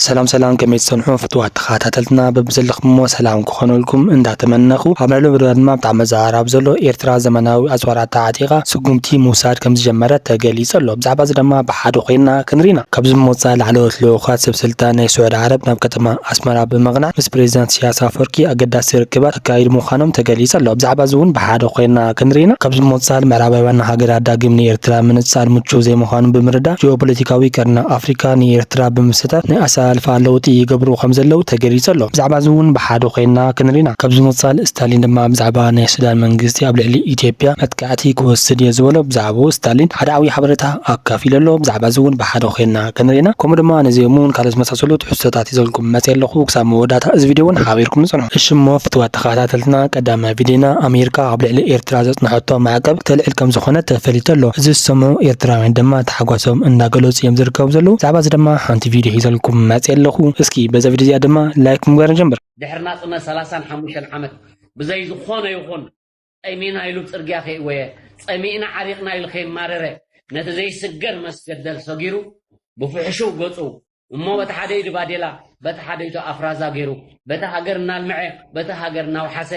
ሰላም ሰላም ከመይ ትጸንሑ ፍትዋት ተኻታተልትና በብዘለኹምዎ ሰላም ክኾነልኩም እንዳተመነኹ ኣብ ልዕሊ መደብና ድማ ብጣዕሚ መዘራረቢ ዘሎ ኤርትራ ዘመናዊ ኣጽዋር ኣተዓጢቓ ስጉምቲ ምውሳድ ከምዝጀመረት ተገሊጹ ኣሎ ብዛዕባ እዚ ድማ ብሓደ ኮይንና ክንርኢ ኢና ካብዚ ብምቕጻል ላዕለዎት ልኡኻት ሰብ ስልጣን ናይ ስዑድ ዓረብ ናብ ከተማ ኣስመራ ብምቕናዕ ምስ ፕሬዚዳንት ኢሰያስ ኣፍወርቂ ኣገዳሲ ርክባት ክካይዱ ምዃኖም ተገሊጹ ኣሎ። ብዛዕባ'ዚ እውን ብሓደ ኮይና ክንርኢና ካብ ዝሞጻል ምዕራባውያን ሃገራት ዳግም ንኤርትራ ምንጻል ምቹው ዘይምዃኑ ብምርዳእ ጂኦፖለቲካዊ ቀርኒ ኣፍሪቃ ንኤርትራ ብምስታፍ ናይ ኣሰላልፋ ለውጢ ይገብሩ ከም ዘለዉ ተገሊጹ ኣሎ። ብዛዕባ'ዚ እውን ብሓደ ኮይና ክንርኢና ካብ ዝሞጻል ስታሊን ድማ ብዛዕባ ናይ ሱዳን መንግስቲ ኣብ ልዕሊ ኢትዮጵያ መጥቃ መግዛእቲ ክወስድ እየ ዝበሎ ብዛዕብኡ ስታሊን ሓደ ዓብይ ሓበሬታ ኣካፊሉ ኣሎ ብዛዕባ እዚ እውን ብሓደ ኮይና ክንሪኢና ከምኡ ድማ ነዚ እሙን ካልኦት ዝመሳሰሉ ትሕዝቶታት ሒዘልኩም መፅየ ኣለኩ ክሳብ መወዳእታ እዚ ቪድዮ እውን ሓቢርኩም ፅንሑ። እሺ እሞ ፍትዋት ተከታተልትና ቀዳማይ ቪድዮና ኣሜሪካ ኣብ ልዕሊ ኤርትራ ዘፅነሐቶ ማዕቀብ ክተልዕል ከም ዝኮነት ተፈሊጡ ኣሎ እዚ ዝሰምዑ ኤርትራውያን ድማ ታሕጓሶም እንዳገለፁ እዮም ዝርከቡ ዘለዉ ብዛዕባ እዚ ድማ ሓንቲ ቪድዮ ሒዘልኩም መፅየ ኣለኩ እስኪ በዛ ቪድዮ እዚኣ ድማ ላይክ ብምግባር ንጀምር። ድሕሪ ናጽነት ሰላሳን ሓሙሽተን ዓመት ብዘይ ዝኾነ ይኹን ጠሚና ኢሉ ጽርግያ ከይእወየ፣ ጸሚእና ዓሪቕና ኢሉ ከይማረረ፣ ነቲ ዘይስገር መስገደል ሰጊሩ፣ ብፍሕሹው ገጹ፣ እሞ በቲ ሓደ ኢዱ ባዴላ፣ በቲ ሓደ ኢቱ ኣፍራዛ ገይሩ፣ በቲ ሃገር እናልምዐ፣ በቲ ሃገር እናውሓሰ፣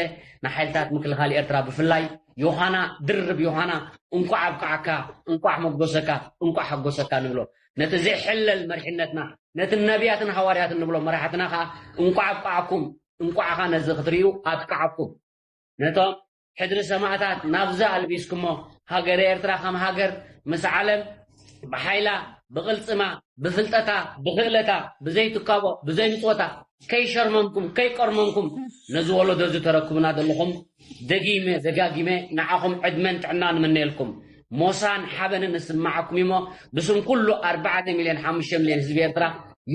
ንሓይልታት ምክልኻል ኤርትራ ብፍላይ፣ ዮሃና፣ ድርብ ዮሃና፣ እንቋዕ ኣብቃዓካ፣ እንቋዕ ሞጎሰካ፣ እንቋዕ ሓጎሰካ ንብሎ። ነቲ ዘይሕለል መሪሕነትና፣ ነቲ ነብያትን ሃዋርያትን ንብሎም መራሕትና ከኣ፣ እንቋዕ ኣብቃዓኩም፣ እንቋዕኻ ነዚ ክትርእዩ ኣብቃዓኩም። ነቶም ሕድሪ ሰማእታት ናብዚ ኣልቢስኩሞ ሃገረ ኤርትራ ከም ሃገር ምስ ዓለም ብሓይላ ብቕልጽማ ብፍልጠታ ብኽእለታ ብዘይ ትካቦ ብዘይ ምጽወታ ከይሸርመምኩም ከይቆርመምኩም ነዚ ወለዶ እዚ ተረክቡና ዘለኹም ደጊመ ደጋጊመ ንዓኹም ዕድመን ጥዕናን እምነየልኩም። ሞሳን ሓበንን እስምዓኩም እዩሞ ብስም ኩሉ ኣርባዕተ ሚልዮን ሓሙሽተ ሚልዮን ህዝቢ ኤርትራ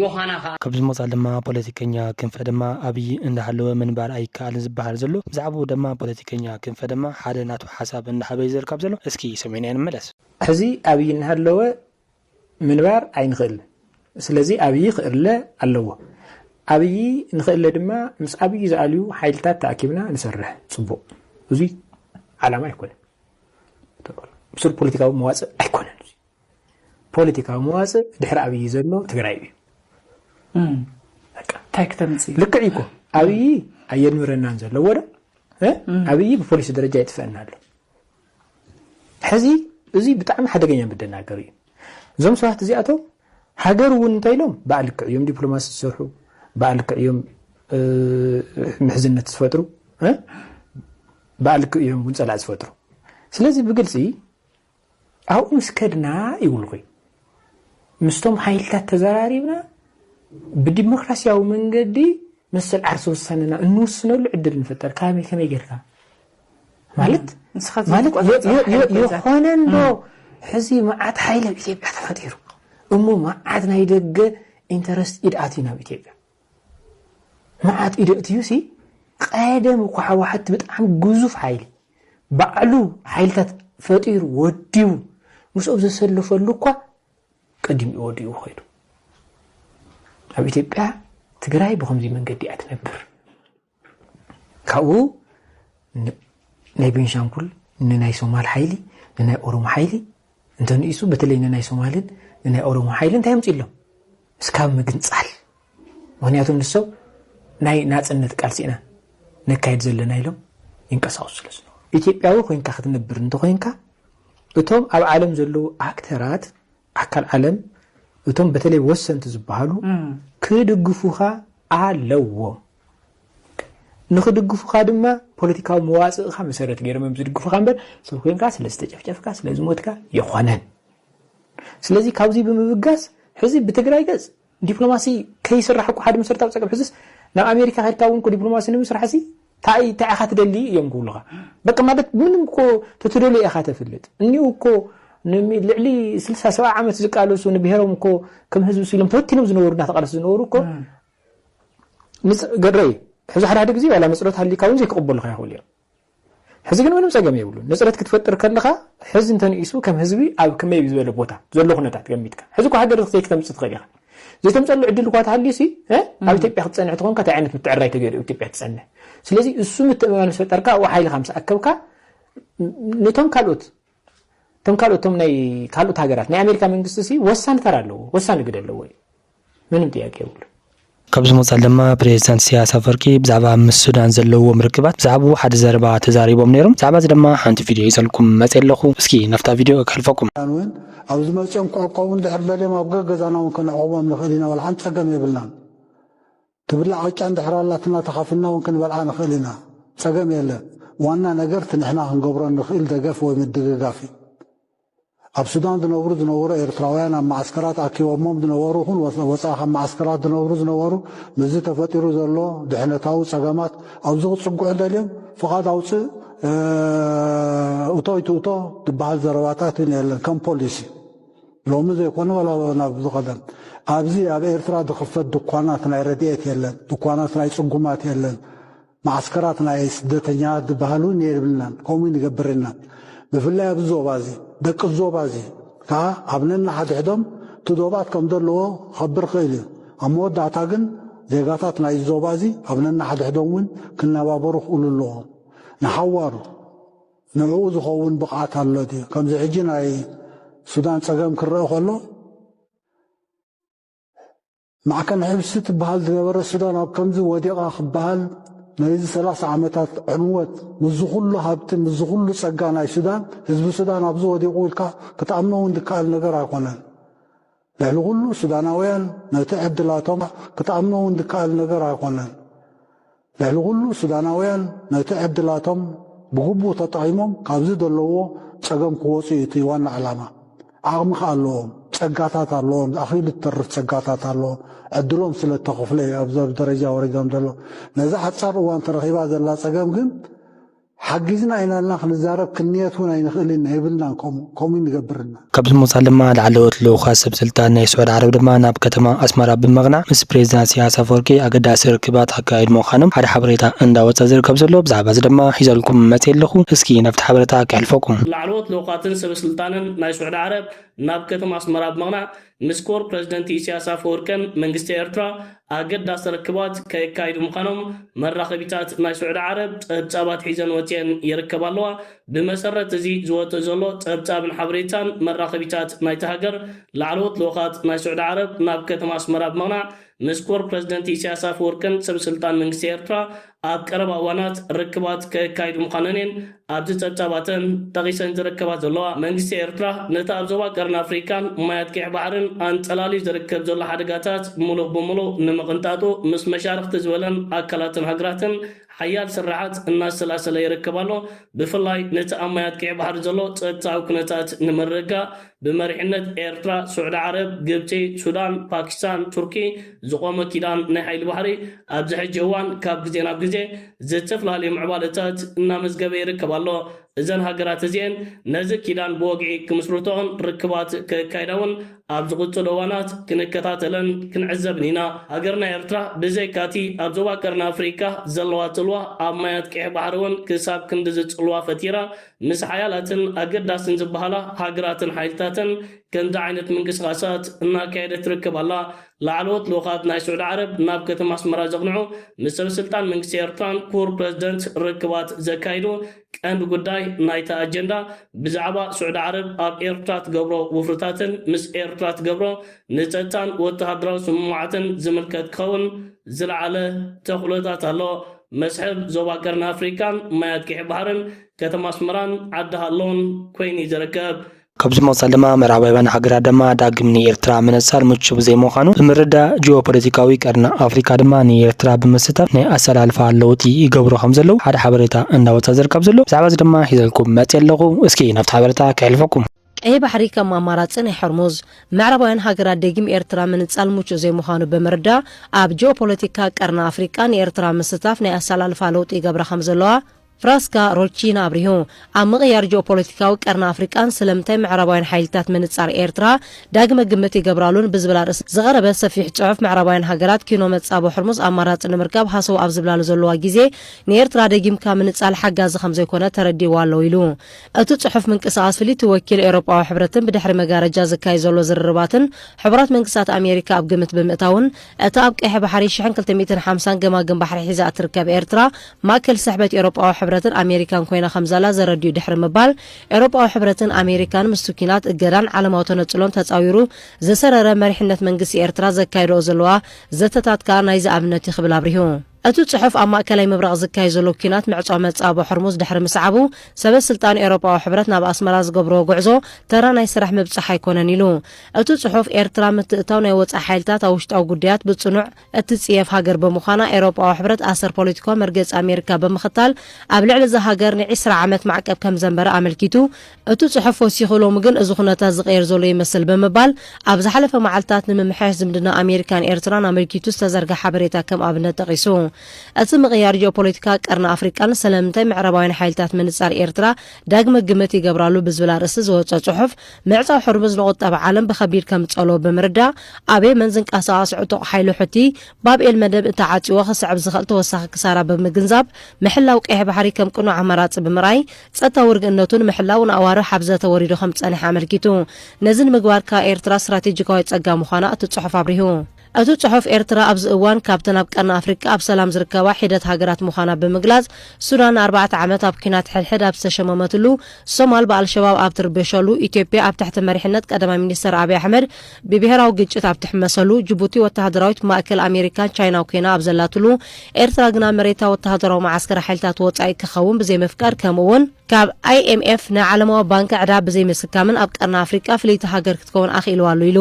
ዮሃና ከኣ። ካብዚ ወጻእ ድማ ፖለቲከኛ ክንፈ ድማ ኣብይ እንዳሃለወ ምንባር ኣይከኣልን ዝበሃል ዘሎ ብዛዕብኡ ደማ ፖለቲከኛ ክንፈ ደማ ሓደ ናቱ ሓሳብ እንዳሃበ እዩ ዝርካብ ዘሎ እስኪ ሰሚዕናዮ ንመለስ። ሕዚ ኣብይ እናሃለወ ምንባር ኣይንኽእልን ስለዚ ኣብዪ ክእለ ኣለዎ ኣብዪ ንኽእለ ድማ ምስ ኣብዪ ዝኣልዩ ሓይልታት ተኣኪብና ንሰርሕ ፅቡቕ እዙይ ዓላማ ኣይኮነን ብሱር ፖለቲካዊ መዋፅእ ኣይኮነን ፖለቲካዊ መዋፅእ ድሕሪ ኣብዪ ዘሎ ትግራይ እዩ እንታይ ክተምፅእ ልክዕ እኮ ኣብዪ ኣየንብረናን ዘለዎ ዶ ኣብዪ ብፖሊሲ ደረጃ ይጥፈአና ኣሎ ሕዚ እዚ ብጣዕሚ ሓደገኛ መደናገሪ እዩ። እዞም ሰባት እዚኣቶም ሃገር እውን እንተኢሎም ባእ ልክዕ እዮም ዲፕሎማሲ ዝሰርሑ፣ ባእ ልክዕ እዮም ምሕዝነት ዝፈጥሩ፣ ባእ ልክዕ እዮም እውን ፀላእ ዝፈጥሩ። ስለዚ ብግልፂ ኣብኡ ምስ ከድና ይብልኹ ምስቶም ሓይልታት ተዘራሪብና ብዲሞክራሲያዊ መንገዲ መሰል ዓርሰ ውሳነና እንውስነሉ ዕድል ንፍጠር ካበይ ከመይ ጌርካ ማለት ማለት የኾነ እንዶ ሕዚ መዓት ሓይል ኣብ ኢትዮጵያ ተፈጢሩ እሞ መዓት ናይ ደገ ኢንተረስት ኢድኣት እዩ ናብ ኢትዮጵያ መዓት ኢዶ እትዩ ሲ ቐደም እኳ ሕዋሕት ብጣዕሚ ግዙፍ ሓይሊ ባዕሉ ሓይልታት ፈጢሩ ወዲቡ ምስኦም ዘሰለፈሉ እኳ ቀዲሙ ወዲኡ ኸይዱ ኣብ ኢትዮጵያ ትግራይ ብኸምዚ መንገዲ እያ ትነብር። ካብኡ ናይ ቤንሻንጉል ንናይ ሶማል ሓይሊ ንናይ ኦሮሞ ሓይሊ እንተንኢሱ በተለይ ንናይ ሶማልን ንናይ ኦሮሞ ሓይሊ እንታይ ኣምፅሎም እስካብ ምግንፃል ምክንያቱ ንሶም ናይ ናፅነት ቃልሲ ኢና ነካየድ ዘለና ኢሎም ይንቀሳቀሱ ስለ ዝነበሩ ኢትዮጵያዊ ኮይንካ ክትነብር እንተኮይንካ እቶም ኣብ ዓለም ዘለዉ ኣክተራት ኣካል ዓለም እቶም በተለይ ወሰንቲ ዝበሃሉ ክድግፉኻ ኣለዎም። ንክድግፉኻ ድማ ፖለቲካዊ መዋፅእኻ መሰረት ገይሮም እዮም ዝድግፉኻ እምበር ሰብ ኮይንካ ስለ ዝተጨፍጨፍካ ስለ ዝሞትካ የኾነን። ስለዚ ካብዚ ብምብጋስ ሕዚ ብትግራይ ገፅ ዲፕሎማሲ ከይስራሕ እኮ ሓደ መሰረታዊ ጸገም ሕዝስ ናብ ኣሜሪካ ከድካ እውን እኮ ዲፕሎማሲ ንምስራሕሲ ታይ ታይ ኢኻ ትደሊ እዮም ክብሉኻ በቃ ማለት ምንም እኮ ተትደልዮ ኢኻ ተፍልጥ እኒኡ እኮ ልዕሊ ስልሳ ሰብዓ ዓመት ዝቃለሱ ንብሔሮም እኮ ከም ህዝቢ ስኢሎም ተበቲኖም ዝነበሩ እናተቃለሱ ዝነበሩ እኮ ገረይ ሕዚ ሓደ ሓደ ግዜ ዋላ መፅሎት ሃሊካ እውን ዘይክቕበሉኻ ይኽእሉ እዮም ሕዚ ግን ምንም ጸገም የብሉን ንጽረት ክትፈጥር ከለኻ ሕዚ እንተንኢሱ ከም ህዝቢ ኣብ ከመይ ዝበለ ቦታ ዘሎ ኩነታት ገሚትካ ሕዚ እኮ ሃገር ዘይክተምጽእ ትኽእል ኢኻ ዘይተምጸሉ ዕድል እኳ ተሃልዩሲ ኣብ ኢትዮጵያ ክትጸንሕ ትኾንካ እንታይ ዓይነት ምትዕራይ ተገይሩ ኢትዮጵያ ትጸንሕ ስለዚ እሱ ምትእምማን ምስ ፈጠርካ ኣብኡ ሓይልኻ ምስ ኣከብካ ነቶም ካልኦት እቶም ካልኦት እቶም ናይ ካልኦት ሃገራት ናይ ኣሜሪካ መንግስቲ ሲ ወሳኒ ተራ ኣለዎ ወሳኒ ግደ ኣለዎ እዩ ምንም ጥያቄ የብሉ። ካብዚ ምቕጻል ድማ ፕሬዚዳንት ኢሳያስ ኣፈወርቂ ብዛዕባ ምስ ሱዳን ዘለዎም ርክባት ብዛዕብኡ ሓደ ዘረባ ተዛሪቦም ነይሮም ብዛዕባ እዚ ድማ ሓንቲ ቪድዮ ሒዘልኩም መጼ ኣለኹ እስኪ ናብታ ቪድዮ ከሕልፈኩም። ሱዳን ውን ኣብ ዝመጽኦም ክዕቆቡ እንድሕር ደልዮም ኣብ ገገዛና ውን ከነዕቑቦም ንኽእል ኢና ዋላ ሓንቲ ጸገም የብልናን። ትብላዕ ቅጫ እንድሕር ኣላትና ተኻፍልና ውን ክንበልዓ ንኽእል ኢና ጸገም የለን ዋና ነገር እቲ ንሕና ክንገብሮ እንኽኢል ደገፍ ወይ ምድግጋፍ እዩ ኣብ ሱዳን ዝነብሩ ዝነበሩ ኤርትራውያን ኣብ መዓስከራት ኣኪቦሞም ዝነበሩ ኹን ወጻኢ ካብ መዓስከራት ዝነብሩ ዝነበሩ ምስዚ ተፈጢሩ ዘሎ ድሕነታዊ ጸገማት ኣብዚ ክጽግዑ ደልዮም ፍቓድ ኣውጽእ እቶ ይትእቶ ዝበሃል ዘረባታት ውን የለን ከም ፖሊሲ ሎሚ ዘይኮነ ዋላ ናብ ዝቐደም ኣብዚ ኣብ ኤርትራ ዝኽፈት ድኳናት ናይ ረድኤት የለን፣ ድኳናት ናይ ጽጉማት የለን፣ መዓስከራት ናይ ስደተኛታት ዝበሃል እውን የብልናን፣ ከምኡ ይንገብር ኢና። ብፍላይ ኣብዚ ዞባ እዚ፣ ደቂ እዚ ዞባ እዚ ከኣ ኣብ ነንሓድሕዶም እቲ ዶባት ከም ዘለዎ ክኸብር ይኽእል እዩ። ኣብ መወዳእታ ግን ዜጋታት ናይ እዚ ዞባ እዚ ኣብ ነንሓድሕዶም እውን ክነባበሩ ክእሉ ኣለዎም፣ ንሓዋሩ። ንዕኡ ዝኸውን ብቕዓት ኣሎ ድዩ? ከምዚ ሕጂ ናይ ሱዳን ጸገም ክረኣ ከሎ፣ ማዕከን ሕብሲ ትበሃል ዝነበረት ሱዳን ኣብ ከምዚ ወዲቓ ክበሃል ናይዚ ሰላሳ ዓመታት ዕንወት ምስዚ ኩሉ ሃብቲ ምስዚ ኩሉ ጸጋ ናይ ሱዳን ህዝቢ ሱዳን ኣብዚ ወዲቑ ኢልካ ክትኣምኖ እውን ዝከኣል ነገር ኣይኮነን። ልዕሊ ኹሉ ሱዳናውያን ነቲ ዕድላቶም ክትኣምኖ ውን ዝከኣል ነገር ኣይኾነን። ልዕሊ ኹሉ ሱዳናውያን ነቲ ዕድላቶም ብግቡእ ተጠቒሞም ካብዚ ዘለውዎ ፀገም ክወፁ ዩ እቲ ዋና ዕላማ። ዓቕሚ ከኣ ኣለዎም፣ ፀጋታት ኣለዎም፣ ኣኺሉ ዝተርፍ ፀጋታት ኣለዎም። ዕድሎም ስለ ዝተኸፍለ ዩ ኣብዚ ደረጃ ወሪዶም ዘለዉ። ነዛ ሓፃር እዋን ተረኺባ ዘላ ፀገም ግን፣ ሓጊዝና ኢላልና ክንዛረብ ክንንየት ውን ኣይንኽእልን ኢና የብልናን ከምኡ ከምኡ ንገብርና። ካብዚ ብምቕጻል ድማ ላዕለዎት ልኡኻት ሰብ ስልጣን ናይ ስዑድ ዓረብ ድማ ናብ ከተማ ኣስመራ ብምቕናዕ ምስ ፕሬዚዳንት ኢሰያስ ኣፈወርቂ ኣገዳሲ ርክባት ኣካይዱ ምዃኖም ሓደ ሓበሬታ እንዳወጸ ዝርከብ ዘሎ ብዛዕባዚ ድማ ሒዘልኩም መጽየ ኣለኹ እስኪ ናብቲ ሓበረታ ከሕልፈኩም። ላዕለዎት ልኡኻትን ሰበ ስልጣንን ናይ ስዑድ ዓረብ ናብ ከተማ ኣስመራ ብምቕናዕ ምስ ክቡር ፕረዚደንት ኢሳያስ ኣፈወርቅን መንግስቲ ኤርትራ ኣገዳሲ ርክባት ከካይዱ ምዃኖም መራኸቢታት ናይ ስዑዲ ዓረብ ጸብጻባት ሒዘን ወጺኤን ይርከባ ኣለዋ። ብመሰረት እዚ ዝወጽእ ዘሎ ጸብጻብን ሓበሬታን መራኸቢታት ናይታ ሃገር ላዕለዎት ልኡኻት ናይ ስዑዲ ዓረብ ናብ ከተማ ኣስመራ ብምቕናዕ ምስ ክቡር ፕረዚደንት ኢሳያስ ኣፈወርቅን ሰብ ስልጣን መንግስቲ ኤርትራ ኣብ ቀረባ እዋናት ርክባት ከካይዱ ምዃነን እየን ኣብዚ ጸብጻባተን ጠቒሰን ዝርከባ ዘለዋ። መንግስቲ ኤርትራ ነቲ ኣብ ዞባ ቀርኒ ኣፍሪቃን ማያት ቂሕ ባሕርን ኣንጸላልዩ ዝርከብ ዘሎ ሓደጋታት ምሉእ ብምሉእ ንምቕንጣጡ ምስ መሻርኽቲ ዝበለን ኣካላትን ሃገራትን ሓያል ስርርዓት እናሰላሰለ ይርከብ ኣሎ። ብፍላይ ነቲ ኣብ ማያት ቂሕ ባሕሪ ዘሎ ጸጥታዊ ኩነታት ንምርግጋእ ብመሪሕነት ኤርትራ፣ ሱዕዲ ዓረብ፣ ግብጺ፣ ሱዳን፣ ፓኪስታን፣ ቱርኪ ዝቖመ ኪዳን ናይ ሓይሊ ባሕሪ ኣብዚ ሕጂ እዋን ካብ ግዜ ናብ ግዜ ዝተፍላለዩ ምዕባለታት እናመዝገበ ይርከብ ኣሎ። እዘን ሃገራት እዚኤን ነዚ ኪዳን ብወግዒ ክምስርትኦን ርክባት ከካይዳውን ኣብ ዝቕጽሉ እዋናት ክንከታተለን ክንዕዘብን ኢና። ሃገርና ኤርትራ ብዘይካቲ ኣብ ዞባ ቀርኒ ኣፍሪካ ዘለዋ ጽልዋ ኣብ ማያት ቀይሕ ባሕሪውን ክሳብ ክንድዚ ጽልዋ ፈጢራ ምስ ሓያላትን ኣገዳስን ዝበሃላ ሃገራትን ሓይልታትን ከምዚ ዓይነት ምንቅስቓሳት እናካየደት ትርከብ ኣላ። ላዕለዎት ልኡኻት ናይ ስዑዲ ዓረብ ናብ ከተማ ኣስመራ ዘቕንዑ፣ ምስ ሰበስልጣን መንግስቲ ኤርትራን ክቡር ፕረዚደንት ርክባት ዘካይዱ፣ ቀንዲ ጉዳይ ናይቲ ኣጀንዳ ብዛዕባ ስዑዲ ዓረብ ኣብ ኤርትራ ትገብሮ ውፍርታትን ምስ ኤርትራ ትገብሮ ንጸጥታን ወተሃደራዊ ስምምዓትን ዝምልከት ክኸውን ዝለዓለ ተኽእሎታት ኣሎ። መስሕብ ዞባ ቀርኒ ኣፍሪቃን ማይ ኣጥቂዒ ባሕርን ከተማ ኣስመራን ዓዲ ሃሎን ኮይኑ'ዩ ዝርከብ። ካብዚ ብምቕጻል ድማ ምዕራባውያን ሃገራት ድማ ዳግም ንኤርትራ ምንጻል ምቹው ዘይምዃኑ ብምርዳእ ጂኦፖለቲካዊ ቀርኒ ኣፍሪቃ ድማ ንኤርትራ ብምስታፍ ናይ ኣሰላልፋ ለውጢ ይገብሩ ከምዘለዉ ሓደ ሓበሬታ እንዳወጽኣ ዝርከብ ዘሎ። ብዛዕባዚ ድማ ሒዘልኩም መጺኤ ኣለኹ እስኪ ናብቲ ሓበሬታ ከሕልፈኩም። ቀይሕ ባሕሪ ከም ኣማራጺ ናይ ሖርሙዝ ምዕራባውያን ሃገራት ደጊም ኤርትራ ምንጻል ምቹእ ዘይምዃኑ ብምርዳእ ኣብ ጂኦፖለቲካ ቀርኒ ኣፍሪቃ ንኤርትራ ምስታፍ ናይ ኣሰላልፋ ለውጢ ይገብራ ከምዘለዋ ፍራስካ ሮቺና ኣብሪሁ። ኣብ ምቕያር ጂኦፖለቲካዊ ቀርኒ ኣፍሪቃን ስለምንታይ ምዕራባውያን ሓይልታት ምንጻር ኤርትራ ዳግመ ግምት ይገብራሉን ብዝብል ኣርእስቲ ዝቐረበ ሰፊሕ ጽሑፍ ምዕራባውያን ሃገራት ኪኖ መጻብቦ ሖርሙዝ ኣማራጺ ንምርካብ ሃሰው ኣብ ዝብላሉ ዘለዋ ግዜ ንኤርትራ ደጊምካ ምንጻል ሓጋዚ ከምዘይኮነ ተረዲእዋ ኣሎ ኢሉ። እቲ ጽሑፍ ምንቅስቓስ ፍልይቲ ወኪል ኤውሮጳዊ ሕብረትን ብድሕሪ መጋረጃ ዝካየድ ዘሎ ዝርርባትን ሕቡራት መንግስታት ኣሜሪካ ኣብ ግምት ብምእታውን እታ ኣብ ቀይሕ ባሕሪ ሽሕን ክልተ ሚእትን ሓምሳን ገማግም ባሕሪ ሒዛ እትርከብ ኤርትራ ማእከል ስሕበት ኤውሮጳዊ ሕብረትን ኣሜሪካን ኮይና ከምዘላ ዘረድኡ ድሕሪ ምባል ኤውሮጳዊ ሕብረትን ኣሜሪካን ምስቲ ኲናት እገዳን ዓለማዊ ተነጽሎን ተጻዊሩ ዝሰረረ መሪሕነት መንግስቲ ኤርትራ ዘካይድኦ ዘለዋ ዘተታት ከኣ ናይዚ ኣብነት እዩ ክብል ኣብሪሁ። እቲ ጽሑፍ ኣብ ማእከላይ ምብራቕ ዝካየድ ዘሎ ኲናት ምዕጾ መጻብቦ ሆርሙዝ ድሕሪ ምስዓቡ፣ ሰበ ስልጣን ኤውሮጳዊ ሕብረት ናብ ኣስመራ ዝገብርዎ ጉዕዞ ተራ ናይ ስራሕ ምብጻሕ ኣይኮነን ኢሉ። እቲ ጽሑፍ፣ ኤርትራ ምትእትታው ናይ ወጻኢ ሓይልታት ኣብ ውሽጣዊ ጉዳያት ብጽኑዕ እትጽየፍ ሃገር ብምዃና፣ ኤውሮጳዊ ሕብረት ኣሰር ፖለቲካዊ መርገጺ ኣሜሪካ ብምኽታል ኣብ ልዕሊ እዛ ሃገር ንዒስራ ዓመት ማዕቀብ ከም ዘንበረ ኣመልኪቱ። እቲ ጽሑፍ ወሲኹ ሎሚ ግን እዚ ኩነታት ዝቐየር ዘሎ ይመስል ብምባል ኣብ ዝሓለፈ መዓልታት ንምምሕያሽ ዝምድና ኣሜሪካን ኤርትራን ኣመልኪቱ ዝተዘርግሐ ሓበሬታ ከም ኣብነት ጠቒሱ። እቲ ምቕያር ጂኦፖለቲካ ቀርኒ ኣፍሪቃን ሰለምንታይ ምዕራባውያን ሓይልታት ምንጻር ኤርትራ ዳግመ ግምት ይገብራሉ ብዝብል ኣርእስቲ ዝወጸ ጽሑፍ ምዕጻው ሕርሙዝ ንቑጠባ ዓለም ብኸቢድ ከም ዝጸልዎ ብምርዳእ ኣብ የመን ዝንቀሳቐስ ዕጡቕ ሓይሊ ሑቲ ባብኤል መደብ እንተዓጽዎ ክስዕብ ዝኽእል ተወሳኺ ክሳራ ብምግንዛብ ምሕላው ቀይሕ ባሕሪ ከም ቅኑዕ ኣማራጺ ብምርኣይ ጸጥታዊ ርግእነቱ ንምሕላው ንኣዋርሕ ኣብ ዘተ ወሪዱ ከም ዝጸንሐ ኣመልኪቱ። ነዚ ንምግባር ከኣ ኤርትራ ስትራቴጂካዊ ጸጋ ምዃና እቲ ጽሑፍ ኣብሪሁ። እቲ ጽሑፍ ኤርትራ ኣብዚ እዋን ካብተን ኣብ ቀርኒ ኣፍሪቃ ኣብ ሰላም ዝርከባ ሒደት ሃገራት ምዃና ብምግላጽ፣ ሱዳን ንኣርባዕተ ዓመት ኣብ ኲናት ሕድሕድ ኣብ ዝተሸመመትሉ፣ ሶማል ብኣልሸባብ ኣብ ትርበሸሉ፣ ኢትዮጵያ ኣብ ትሕቲ መሪሕነት ቀዳማይ ሚኒስተር ኣብይ ኣሕመድ ብብሄራዊ ግጭት ኣብ ትሕመሰሉ ጅቡቲ ወተሃደራዊት ማእከል ኣሜሪካን ቻይናን ኮይና ኣብ ዘላትሉ፣ ኤርትራ ግና መሬታ ወተሃደራዊ መዓስከር ሓይልታት ወጻኢ ክኸውን ብዘይምፍቃድ ከምኡ'ውን ካብ IMF ናይ ዓለማዊ ባንኪ ዕዳ ብዘይምስካምን ኣብ ቀርኒ ኣፍሪቃ ፍልይቲ ሃገር ክትከውን ኣኽኢልዋ ኣሎ ኢሉ።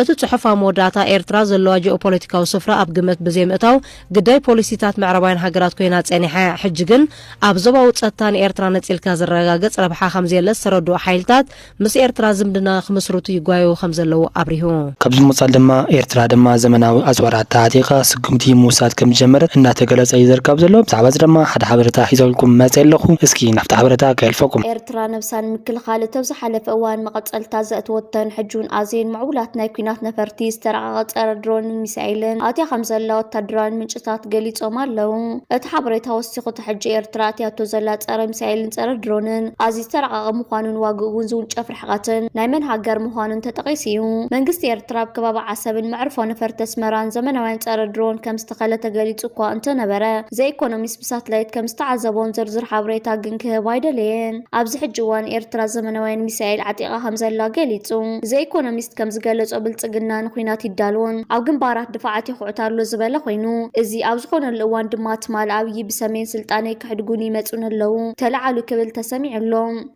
እቲ ጽሑፍ ኣብ መወዳእታ ኤርትራ ዘለዋ ጂኦፖለቲካዊ ስፍራ ኣብ ግምት ብዘይምእታው ግዳይ ፖሊሲታት ምዕራባውያን ሃገራት ኮይና ጸኒሓ እያ፣ ሕጂ ግን ኣብ ዞባዊ ጸጥታ ንኤርትራ ነጺልካ ዝረጋገጽ ረብሓ ከምዘየለ ዝተረድኡ ሓይልታት ምስ ኤርትራ ዝምድና ክምስርቱ ይጓየዩ ከምዘለዉ ኣብሪሁ። ካብዚ ብምቕፃል ድማ ኤርትራ ድማ ዘመናዊ ኣፅዋራት ተዓጢቓ ስጉምቲ ምውሳድ ከምዝጀመረት እናተገለፀ እዩ ዝርከብ ዘሎ። ብዛዕባ እዚ ድማ ሓደ ሓበሬታ ሒዘልኩም መፂኤ ኣለኹ። እስኪ ናብቲ ሓበሬታ ከየልፈኩም። ኤርትራ ነብሳ ንምክልኻል እተብ ዝሓለፈ እዋን መቐፀልታ ዘእተወተን ሕጂ እውን ኣዝየን ምዕቡላት ናይ ኲናት ነፈርቲ፣ ዝተራቐቐ ፀረ ድሮንን ሚሳኤልን ኣእትያ ከምዘላ ወታደራውያን ምንጭታት ገሊፆም ኣለው። እቲ ሓበሬታ ወሲኹ እቲ ሕጂ ኤርትራ ኣእትያቶ ዘላ ፀረ ሚሳኤልን ፀረ ድሮንን ኣዝዩ ዝተራቐቐ ምዃኑን ዋግኡ'ውን ዝውንጨፍ ርሕቐትን ናይ መን ሃገር ምዃኑን ተጠቒሱ እዩ። መንግስቲ ኤርትራ ኣብ ከባቢ ዓሰብን መዕርፎ ነፈርቲ ኣስመራን ዘመናውያን ጸረ ድሮን ከም ዝተኸለ ተገሊጹ እኳ እንተ ነበረ፣ ዘ ኢኮኖሚስት ብሳትላይት ከም ዝተዓዘቦን ዝርዝር ሓበሬታ ግን ክህብ ኣይደለየን። ኣብዚ ሕጂ እዋን ኤርትራ ዘመናውያን ሚሳኤል ዓጢቓ ከም ዘላ ገሊጹ። ዘ ኢኮኖሚስት ከም ዝገለጾ ብልጽግና ንኲናት ይዳሎን ኣብ ግንባራት ድፋዓት የኹዕት ኣሎ ዝበለ ኮይኑ፣ እዚ ኣብ ዝኾነሉ እዋን ድማ ትማል ኣብዪ ብሰሜን ስልጣነይ ከሕድጉኒ ይመጹኒ ኣለዉ ተላዓሉ ክብል ተሰሚዑ ኣሎ።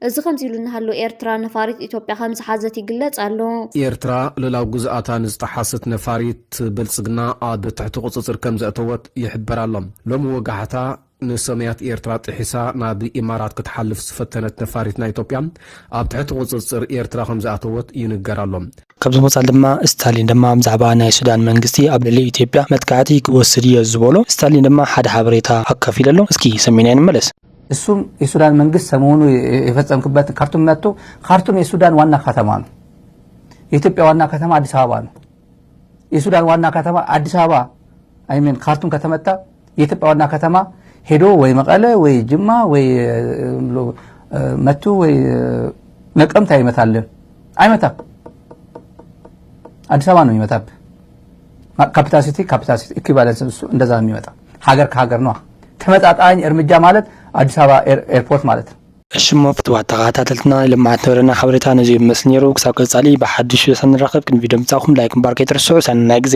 እዚ ከምዚ ኢሉ እናሃሎ ኤርትራ ነፋሪት ኢትዮጵያ ከም ዝሓዘት ይግለጽ ኣሎ። ኤርትራ ልኡላዊ ግዝኣታ ንዝጠሓሰት ነፋሪት ብልጽግና ኣብ ትሕቲ ቁጽጽር ከም ዘእተወት ይሕበር ኣሎ። ሎሚ ወጋሕታ ንሰማያት ኤርትራ ጥሒሳ ናብ ኢማራት ክትሓልፍ ዝፈተነት ነፋሪት ናይ ኢትዮጵያ ኣብ ትሕቲ ቁጽጽር ኤርትራ ከም ዝኣተወት ይንገር ኣሎ። ካብዚ ወጻኢ ድማ ስታሊን ድማ ብዛዕባ ናይ ሱዳን መንግስቲ ኣብ ልዕሊ ኢትዮጵያ መጥቃዕቲ ክወስድ እዮ ዝበሎ ስታሊን ድማ ሓደ ሓበሬታ ኣካፊሉ ኣሎ እስኪ ሰሚዕናዮ ንመለስ። እሱም የሱዳን መንግስት ሰሞኑ የፈጸምክበት ካርቱም መጥቶ ካርቱም የሱዳን ዋና ከተማ ነው። የኢትዮጵያ ዋና ከተማ አዲስ አበባ ነው። የሱዳን ዋና ከተማ አዲስ አበባ አይሜን ካርቱም ከተመታ የኢትዮጵያ ዋና ከተማ ሄዶ ወይ መቐለ ወይ ጅማ ወይ መቱ ወይ ነቀምት ኣይመታልን ኣይመታ አዲስ አበባ ነው የሚመጣብ ካፒታሲቲ ካፒታሲቲ ኢኩቫለንስ እሱ እንደዛ ነው የሚመጣ ሀገር ከሀገር ነዋ ተመጣጣኝ እርምጃ ማለት አዲስ አበባ ኤርፖርት ማለት ነው እሽሞ ፍትዋት ተኸታተልትና ናይ ልምዓት ነበረና ሓበሬታ ነዚ ይመስል ነይሩ ክሳብ ቀጻሊ ብሓድሽ ሰንራኸብ ቅድሚ ቪድዮ ምጻኹም ላይክ ምባር ከይትርስዑ ሰናይ ግዜ